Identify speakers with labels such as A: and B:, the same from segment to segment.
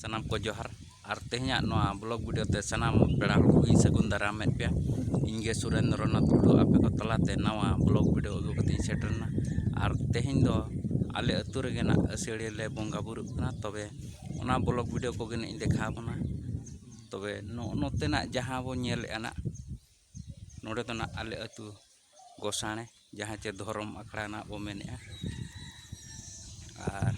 A: ᱥᱟᱱᱟᱢ ᱠᱚ ᱡᱚᱦᱟᱨ ᱟᱨ ᱛᱮᱦᱮᱧᱟᱜ ᱱᱚᱣᱟ ᱵᱞᱚᱜ ᱵᱷᱤᱰᱤᱭᱳ ᱛᱮ ᱥᱟᱱᱟᱢ ᱯᱮᱲᱟ ᱦᱚᱲ ᱠᱚᱜᱮᱧ ᱥᱟᱹᱜᱩᱱ ᱫᱟᱨᱟᱢᱮᱫ ᱯᱮᱭᱟ ᱤᱧ ᱜᱮ ᱥᱩᱨᱮᱱᱫᱨᱚ ᱱᱟᱛᱷ ᱴᱩᱰᱩ ᱟᱯᱮ ᱠᱚ ᱛᱟᱞᱟᱛᱮ ᱱᱟᱣᱟ ᱵᱞᱚᱜ ᱵᱷᱤᱰᱤᱭᱳ ᱟᱹᱜᱩ ᱠᱟᱛᱮ ᱤᱧ ᱥᱮᱴᱮᱨᱮᱱᱟ ᱟᱨ ᱛᱮᱦᱮᱧ ᱫᱚ ᱟᱞᱮ ᱟᱹᱛᱩ ᱨᱮᱜᱮ ᱱᱟᱜ ᱟᱹᱥᱟᱹᱲᱤᱭᱟᱹ ᱞᱮ ᱵᱚᱸᱜᱟ ᱵᱩᱨᱩᱜ ᱠᱟᱱᱟ ᱛᱚᱵᱮ ᱚᱱᱟ ᱵᱞᱚᱜ ᱵᱷᱤᱰᱤᱭᱳ ᱠᱚᱜᱮ ᱱᱟᱜ ᱤᱧ ᱫᱮᱠᱷᱟᱣ ᱟᱵᱚᱱᱟ ᱛᱚᱵᱮ ᱱᱚᱜᱼᱚ ᱱᱚᱛᱮᱱᱟᱜ ᱡᱟᱦᱟᱸ ᱵᱚᱱ ᱧᱮᱞᱮᱜᱼᱟ ᱱᱟᱜ ᱱᱚᱰᱮ ᱫᱚ ᱱᱟᱜ ᱟᱞᱮ ᱟᱹᱛᱩ ᱜᱚᱥᱟᱬᱮ ᱡᱟᱦᱟᱸ ᱪᱮ ᱫᱷᱚᱨᱚᱢ ᱟᱠᱷᱲᱟ ᱱᱟᱜ ᱵᱚ ᱢᱮᱱᱮᱜᱼᱟ ᱟᱨ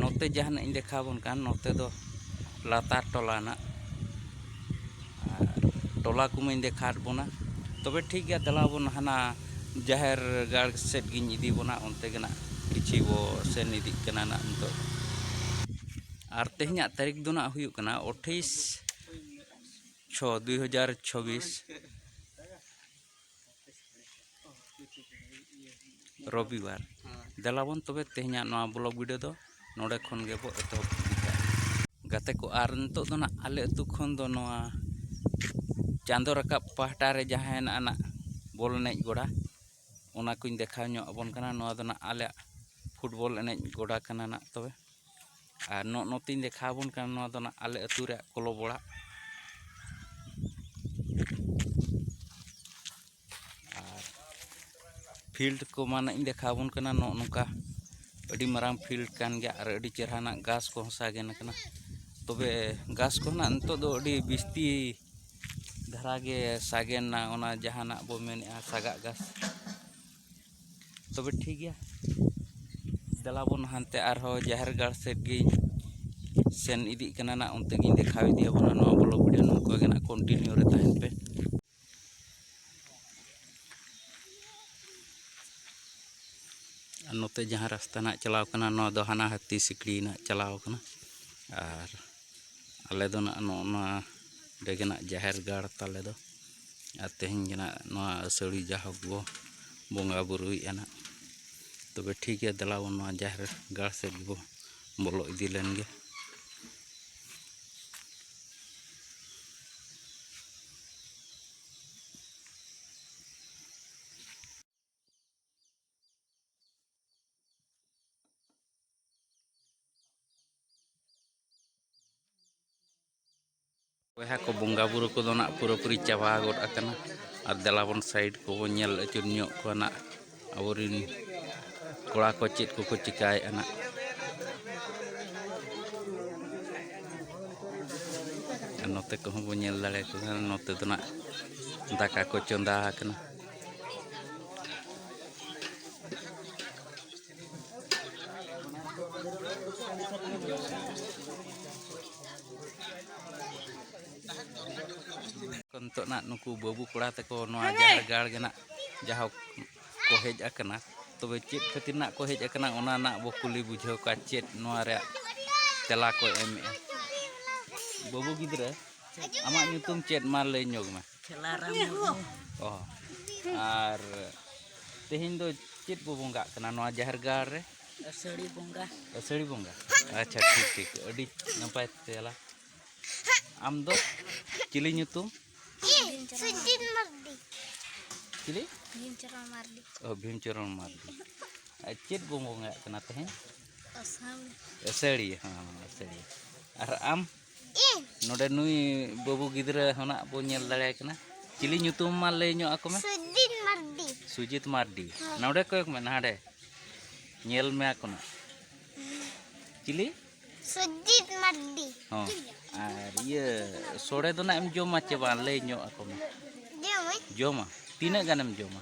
A: ᱱᱚᱛᱮ ᱡᱟᱦᱟᱸ ᱱᱟᱜ ᱤᱧ ᱫᱮᱠᱷᱟᱣ ᱵᱚᱱ ᱠᱟᱱ ᱱᱚᱛᱮ ᱫᱚ ᱞᱟᱛᱟᱨ ᱴᱚᱞᱟ ᱱᱟᱜ ᱟᱨ ᱴᱚᱞᱟ ᱠᱚᱢᱟᱧ ᱫᱮᱠᱷᱟᱣᱟᱫ ᱵᱚᱱᱟ ᱛᱚᱵᱮ ᱴᱷᱤᱠ ᱜᱮᱭᱟ ᱫᱮᱞᱟ ᱵᱚᱱ ᱦᱟᱱᱟ ᱡᱟᱦᱮᱨ ᱜᱟᱲ ᱥᱮᱫ ᱜᱤᱧ ᱤᱫᱤ ᱵᱚᱱᱟ ᱚᱱᱛᱮ ᱜᱮ ᱱᱟᱜ ᱠᱤᱪᱷᱤ ᱵᱚ ᱥᱮᱱ ᱤᱫᱤᱜ ᱠᱟᱱᱟ ᱱᱟᱜ ᱱᱤᱛᱚᱜ ᱟᱨ ᱛᱮᱦᱮᱧᱟᱜ ᱛᱟᱹᱨᱤᱠᱷ ᱫᱚ ᱱᱟᱜ ᱦᱩᱭᱩᱜ ᱠᱟᱱᱟ ᱟᱴᱷᱟᱥ ᱪᱷᱚ ᱫᱩᱭ ᱦᱟᱡᱟᱨ ᱪᱷᱚᱵᱤᱥ ᱨᱚᱵᱤᱵᱟᱨ ᱫᱮᱞᱟᱵᱚᱱ ᱛᱚᱵᱮ ᱛᱮᱦᱮᱧᱟᱜ ᱱᱚᱣᱟ ᱵᱞᱚᱜ ᱵᱷᱤᱰᱤᱭᱳ ᱫᱚ ᱱᱚᱰᱮ ᱠᱷᱚᱱ ᱜᱮᱵᱚ ᱮᱛᱚᱦᱚᱵ ᱜᱟᱛᱮ ᱠᱚ ᱟᱨ ᱱᱤᱛᱚᱜ ᱫᱚ ᱱᱟᱜ ᱟᱞᱮ ᱟᱹᱛᱩ ᱠᱷᱚᱱ ᱫᱚ ᱱᱚᱣᱟ ᱪᱟᱸᱫᱚ ᱨᱟᱠᱟᱵ ᱯᱟᱦᱴᱟ ᱨᱮ ᱡᱟᱦᱟᱸ ᱦᱮᱱᱟᱜ ᱟᱱᱟᱜ ᱵᱚᱞ ᱮᱱᱮᱡ ᱜᱚᱰᱟ ᱚᱱᱟ ᱠᱚᱧ ᱫᱮᱠᱷᱟᱣ ᱧᱚᱜ ᱟᱵᱚᱱ ᱠᱟᱱᱟ ᱱᱚᱣᱟ ᱫᱚ ᱱᱟᱜ ᱟᱞᱮᱭᱟᱜ ᱯᱷᱩᱴᱵᱚᱞ ᱮᱱᱮᱡ ᱜᱚᱰᱟ ᱠᱟᱱᱟ ᱱᱟᱜ ᱛᱚᱵᱮ ᱟᱨ ᱱᱚᱜᱼᱚ ᱱᱚᱛᱮᱧ ᱫᱮᱠᱷᱟᱣ ᱟᱵᱚᱱ ᱠᱟᱱᱟ ᱱᱚᱣᱟ ᱫᱚ ᱱᱟᱜ ᱟᱞᱮ ᱟᱹᱛᱩ ᱨᱮᱭᱟᱜ ᱠᱞᱟᱵᱽ ᱚᱲᱟᱜ ᱟᱨ ᱯᱷᱤᱞᱰ ᱠᱚ ᱢᱟ ᱱᱟᱜ ᱤᱧ ᱫᱮᱠᱷᱟᱣ ᱟᱵᱚᱱ ᱠᱟᱱᱟ ᱱᱚᱜᱼᱚ ᱱᱚᱝᱠᱟ ᱟᱹᱰᱤ ᱢᱟᱨᱟᱝ ᱯᱷᱤᱞᱰ ᱠᱟᱱ ᱜᱮᱭᱟ ᱟᱨ ᱟᱹᱰᱤ ᱪᱮᱦᱨᱟ ᱱᱟᱜ ᱜᱷᱟᱥ ᱠᱚᱦᱚᱸ ᱥᱟᱜᱮᱱ ᱟᱠᱟᱱᱟ ᱛᱚᱵᱮ ᱜᱷᱟᱥ ᱠᱚ ᱱᱟᱜ ᱱᱤᱛᱚᱜ ᱫᱚ ᱟᱹᱰᱤ ᱵᱤᱥᱛᱤ ᱫᱷᱟᱨᱟ ᱜᱮ ᱥᱟᱜᱮᱱ ᱮᱱᱟ ᱚᱱᱟ ᱡᱟᱦᱟᱸ ᱱᱟᱜ ᱵᱚ ᱢᱮᱱᱮᱫᱼᱟ ᱥᱟᱜᱟᱜ ᱜᱷᱟᱥ ᱛᱚᱵᱮ ᱴᱷᱤᱠ ᱜᱮᱭᱟ ᱫᱮᱞᱟ ᱵᱚᱱ ᱦᱟᱱᱛᱮ ᱟᱨᱦᱚᱸ ᱡᱟᱦᱮᱨ ᱜᱟᱲ ᱥᱮᱫ ᱜᱤᱧ ᱥᱮᱱ ᱤᱫᱤᱜ ᱠᱟᱱᱟ ᱱᱟᱜ ᱚᱱᱛᱮ ᱜᱤᱧ ᱫᱮᱠᱷᱟᱣ ᱤᱫᱤᱭᱟᱵᱚᱱᱟ ᱱᱚᱣᱟ ᱵᱞᱚᱜ ᱵᱷᱤᱰᱤᱭᱳ ᱱᱚᱝᱠᱟ ᱜᱮ ᱱᱟᱜ ᱠᱚᱱᱴᱤᱱᱤᱭᱩ ᱨᱮ ᱛᱟᱦᱮᱱ ᱯᱮ ᱟᱨ ᱱᱚᱛᱮ ᱡᱟᱦᱟᱸ ᱨᱟᱥᱛᱟ ᱱᱟᱜ ᱪᱟᱞᱟᱣ ᱠᱟᱱᱟ ᱱᱚᱣᱟ ᱫᱚ ᱦᱟᱱᱟ ᱦᱟᱹᱛᱤ ᱥᱤᱠᱲᱤ ᱱᱟᱜ ᱪᱟᱞᱟᱣ ᱠᱟᱱᱟ ᱟᱨ ᱟᱞᱮ ᱫᱚ ᱱᱟᱜ ᱱᱚᱜᱼᱚ ᱱᱚᱣᱟ ᱚᱸᱰᱮ ᱜᱮ ᱱᱟᱜ ᱡᱟᱦᱮᱨ ᱜᱟᱲ ᱛᱟᱞᱮ ᱫᱚ ᱟᱨ ᱛᱮᱦᱮᱧ ᱜᱮ ᱱᱟᱜ ᱱᱚᱣᱟ ᱟᱹᱥᱟᱹᱲᱤ ᱡᱟᱦᱳᱠ ᱵᱚ ᱵᱚᱸᱜᱟ ᱵᱩᱨᱩᱭᱮᱫᱼᱟ ᱱᱟᱜ ᱛᱚᱵᱮ ᱴᱷᱤᱠ ᱜᱮᱭᱟ ᱫᱮᱞᱟ ᱵᱚᱱ ᱱᱚᱣᱟ ᱡᱟᱦᱮᱨ ᱜᱟᱲ ᱥᱮᱫ ᱵᱚ ᱵᱚᱞᱚ ᱤᱫᱤ ᱞᱮᱱ ᱜᱮ ᱵᱚᱭᱦᱟ ᱠᱚ ᱵᱚᱸᱜᱟ ᱵᱩᱨᱩ ᱠᱚᱫᱚ ᱱᱟᱜ ᱯᱩᱨᱟᱹᱯᱩᱨᱤ ᱪᱟᱵᱟ ᱜᱚᱫ ᱟᱠᱟᱱᱟ ᱟᱨ ᱫᱮᱞᱟᱵᱚᱱ ᱥᱟᱭᱤᱰ ᱠᱚᱵᱚᱱ ᱧᱮᱞ ᱟᱹᱪᱩᱨ ᱧᱚᱜ ᱠᱚᱣᱟ ᱱᱟᱜ ᱟᱵᱚᱨᱤᱱ ᱠᱚᱲᱟ ᱠᱚ ᱪᱮᱫ ᱠᱚᱠᱚ ᱪᱤᱠᱟᱭᱮᱫᱼᱟ ᱱᱟᱜ ᱱᱚᱛᱮ ᱠᱚᱦᱚᱸ ᱵᱚᱱ ᱧᱮᱞ ᱫᱟᱲᱮᱭᱟᱠᱚ ᱠᱟᱱᱟ ᱱᱚᱛᱮ ᱫᱚ ᱱᱟᱜ ᱫᱟᱠᱟ ᱠᱚ ᱪᱚᱸᱫᱟ ᱟᱠᱟᱱᱟ ᱱᱤᱛᱚᱜ ᱱᱟᱜ ᱱᱩᱠᱩ ᱵᱟᱹᱵᱩ ᱠᱚᱲᱟ ᱛᱮᱠᱚ ᱱᱚᱣᱟ ᱡᱟᱦᱮᱨ ᱜᱟᱲ ᱜᱮ ᱱᱟᱜ ᱡᱟᱦᱳᱠ ᱠᱚ ᱦᱮᱡ ᱟᱠᱟᱱᱟ ᱛᱚᱵᱮ ᱪᱮᱫ ᱠᱷᱟᱹᱛᱤᱨ ᱱᱟᱜ ᱠᱚ ᱦᱮᱡ ᱟᱠᱟᱱᱟ ᱚᱱᱟ ᱱᱟᱜ ᱵᱚ ᱠᱩᱞᱤ ᱵᱩᱡᱷᱟᱹᱣ ᱠᱚᱣᱟ ᱪᱮᱫ ᱱᱚᱣᱟ ᱨᱮᱭᱟᱜ ᱛᱮᱞᱟ ᱠᱚ ᱮᱢᱮᱜᱼᱟ ᱵᱟᱹᱵᱩ ᱜᱤᱫᱽᱨᱟᱹ ᱟᱢᱟᱜ ᱧᱩᱛᱩᱢ ᱪᱮᱫ ᱢᱟ ᱞᱟᱹᱭ ᱧᱚᱜᱽ ᱢᱮ ᱟᱨ ᱛᱮᱦᱮᱧ ᱫᱚ ᱪᱮᱫ ᱵᱚ ᱵᱚᱸᱜᱟᱜ ᱠᱟᱱᱟ ᱱᱚᱣᱟ ᱡᱟᱦᱮᱨ ᱜᱟᱲ ᱨᱮ ᱟᱹᱥᱟᱹᱲᱤ ᱵᱚᱸᱜᱟ ᱟᱹᱥᱟᱹᱲᱤ ᱵᱚᱸᱜᱟ ᱟᱪᱪᱷᱟ ᱴᱷᱤᱠ ᱴᱷᱤᱠ ᱟᱹᱰᱤ ᱱᱟᱯᱟᱭ ᱛᱮᱞᱟ ᱟᱢ ᱫᱚ ᱪᱤᱞᱤ ᱧᱩᱛᱩᱢ ᱪᱤᱞᱤ ᱵᱷᱤᱢᱪᱚᱨᱚᱱ ᱢᱟᱨᱰᱤ ᱚ ᱵᱷᱤᱢᱪᱚᱨᱚᱱ ᱢᱟᱨᱰᱤ ᱟᱨ ᱪᱮᱫ ᱵᱚ ᱵᱚᱸᱜᱟᱜ ᱠᱟᱱᱟ ᱛᱮᱦᱮᱧ ᱟᱹᱥᱟᱹᱲᱤ ᱦᱮᱸ ᱟᱹᱥᱟᱹᱲᱤ ᱟᱨ ᱟᱢ ᱱᱚᱰᱮ ᱱᱩᱭ ᱵᱟᱹᱵᱩ ᱜᱤᱫᱽᱨᱟᱹ ᱦᱚᱱᱟᱜ ᱵᱚ ᱧᱮᱞ ᱫᱟᱲᱮᱭᱟᱭ ᱠᱟᱱᱟ ᱪᱤᱞᱤ ᱧᱩᱛᱩᱢ ᱢᱟ ᱞᱟᱹᱭ ᱧᱚᱜ ᱟᱠᱚ ᱢᱮ ᱥᱩᱡᱤᱛ ᱢᱟᱨᱰᱤ ᱥᱩᱡᱤᱛ ᱢᱟᱨᱰᱤ ᱱᱚᱰᱮ ᱠᱚᱭᱚᱜ ᱢᱮ ᱱᱟᱰᱮ ᱧᱮᱞ ᱢᱮ ᱟᱠᱚ ᱱᱟ ᱪᱤᱞᱤ ᱥᱩᱡᱤᱛ ᱢᱟᱨᱰᱤ ᱦᱚᱸ ᱟᱨ ᱤᱭᱟᱹ ᱥᱚᱲᱮ ᱫᱚ ᱱᱟᱜ ᱮᱢ ᱡᱚᱢᱟ ᱪᱮ ᱵᱟᱝ ᱞᱟᱹᱭ ᱧᱚᱜ ᱟᱠᱚ ᱢᱮ ᱡᱚᱢᱟ ᱛᱤᱱᱟᱹᱜ ᱜᱟᱱᱮᱢ ᱡᱚᱢᱟ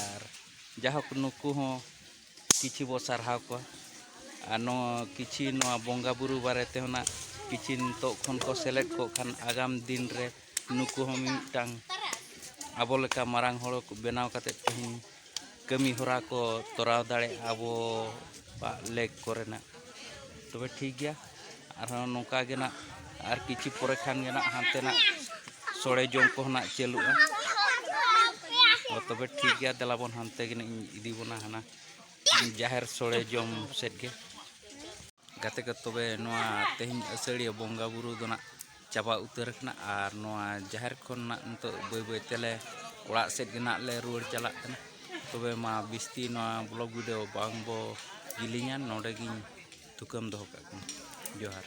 A: ᱟᱨ ᱡᱟᱭᱦᱳᱠ ᱱᱩᱠᱩ ᱦᱚᱸ ᱠᱤᱪᱷᱤ ᱵᱚ ᱥᱟᱨᱦᱟᱣ ᱠᱚᱣᱟ ᱟᱨ ᱱᱚᱣᱟ ᱠᱤᱪᱷᱤ ᱱᱚᱣᱟ ᱵᱚᱸᱜᱟ ᱵᱩᱨᱩ ᱵᱟᱨᱮ ᱛᱮ ᱦᱚᱸ ᱱᱟᱦᱟᱜ ᱠᱤᱪᱷᱤ ᱱᱤᱛᱚᱜ ᱠᱷᱚᱱ ᱠᱚ ᱥᱮᱞᱮᱫ ᱠᱚᱜ ᱠᱷᱟᱱ ᱟᱜᱟᱢ ᱫᱤᱱ ᱨᱮ ᱱᱩᱠᱩ ᱦᱚᱸ ᱢᱤᱢᱤᱫᱴᱟᱝ ᱟᱵᱚ ᱞᱮᱠᱟ ᱢᱟᱨᱟᱝ ᱦᱚᱲ ᱠᱚ ᱵᱮᱱᱟᱣ ᱠᱟᱛᱮᱫ ᱛᱮᱦᱮᱧ ᱠᱟᱹᱢᱤ ᱦᱚᱨᱟ ᱠᱚ ᱛᱚᱨᱟᱣ ᱫᱟᱲᱮᱭᱟᱜᱼᱟ ᱟᱵᱚᱣᱟᱜ ᱞᱮᱠ ᱠᱚᱨᱮᱱᱟᱜ ᱛᱚᱵᱮ ᱴᱷᱤᱠ ᱜᱮᱭᱟ ᱟᱨᱦᱚᱸ ᱱᱚᱝᱠᱟ ᱜᱮ ᱱᱟᱜ ᱟᱨ ᱠᱤᱪᱷᱩ ᱯᱚᱨᱮ ᱠᱷᱟᱱ ᱜᱮ ᱱᱟᱜ ᱦᱟᱱᱛᱮ ᱱᱟᱜ ᱥᱚᱲᱮ ᱡᱚᱢ ᱠᱚᱦᱚᱸ ᱱᱟᱜ ᱪᱟᱹᱞᱩᱜᱼᱟ ᱛᱚᱵᱮ ᱴᱷᱤᱠ ᱜᱮᱭᱟ ᱫᱮᱞᱟ ᱵᱚᱱ ᱦᱟᱱᱛᱮ ᱜᱮ ᱤᱧ ᱤᱫᱤ ᱵᱚᱱᱟ ᱦᱟᱱᱟ ᱡᱟᱦᱮᱨ ᱥᱚᱲᱮ ᱡᱚᱢ ᱥᱮᱫ ᱜᱮ ᱜᱟᱛᱮ ᱠᱚ ᱛᱚᱵᱮ ᱱᱚᱣᱟ ᱛᱮᱦᱮᱧ ᱟᱹᱥᱟᱹᱲᱤᱭᱟᱹ ᱵᱚᱸᱜᱟᱼᱵᱩᱨᱩ ᱫᱚ ᱱᱟᱜ ᱪᱟᱵᱟ ᱩᱛᱟᱹᱨ ᱟᱠᱟᱱᱟ ᱟᱨ ᱱᱚᱣᱟ ᱡᱟᱦᱮᱨ ᱠᱷᱚᱱᱟᱜ ᱱᱤᱛᱚᱜ ᱵᱟᱹᱭ ᱵᱟᱹᱭ ᱛᱮᱞᱮ ᱚᱲᱟᱜ ᱥᱮᱫ ᱜᱮ ᱱᱟᱜ ᱞᱮ ᱨᱩᱣᱟᱹᱲ ᱪᱟᱞᱟᱜ ᱠᱟᱱᱟ ᱛᱚᱵᱮ ᱢᱟ ᱵᱤᱥᱛᱤ ᱱᱚᱣᱟ ᱵᱞᱚᱜ ᱵᱷᱤᱰᱤᱭᱳ ᱵᱟᱝ ᱵᱚ ᱡᱤᱞᱤᱧᱟ ᱱᱚᱰᱮ ᱜᱤᱧ ᱛᱷᱩᱠᱟᱹᱢ ᱫᱚᱦᱚ ᱠᱟᱜ ᱠᱟᱱᱟ ᱡᱚᱦᱟᱨ